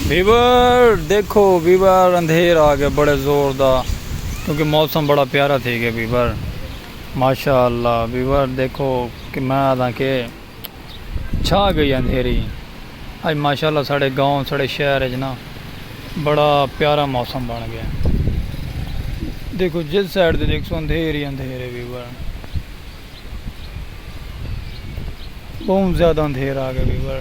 viewer دیکھو viewer اندھیر آ گیا بڑے زور دا کیونکہ موسم بڑا پیارا تھی گیا ویور ماشاء اللہ ویور دیکھو کہ میں آدھا کہ چھا گئی اندھیری اج ماشاء اللہ ساڑھے گاؤں ساڑھے شہر اج نا بڑا پیارا موسم بن گیا دیکھو جس سائڈ دے دیکھ سو اندھیر ہی اندھیر ہے ویور بہت زیادہ اندھیر آ گیا ویور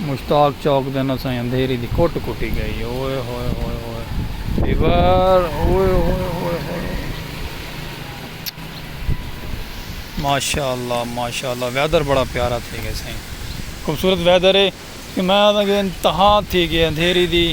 مشتاق چوک دن اساں دی اندھیری دی کٹ کٹی گئی ہے اوئے ہوئے ہوئے ہوئے فیور اوئے ہوئے ہوئے ہوئے ماشاءاللہ ماشاءاللہ ویدر بڑا پیارا تھی گئے سائیں خوبصورت ویدر ہے کہ میں آدھا کہ انتہا تھی گئے اندھیری دی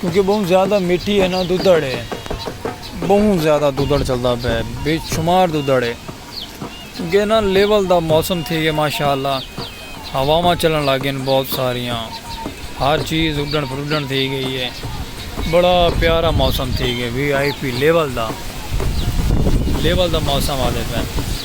کیونکہ بہوں زیادہ مٹی ہے نا دودھڑ ہے بہوں زیادہ دودھڑ چلدا پیا ہے بے شمار دودھڑ ہے کیونکہ انہاں لیول دا موسم تھی گیا ماشاء اللہ ہواواں چلن لگ گئین بہت ساریاں ہر چیز اڈن پھرڈن تھی گئی ہے بڑا پیارا موسم تھی گیا وی آئی پی لیول دا لیول دا موسم آ دے پین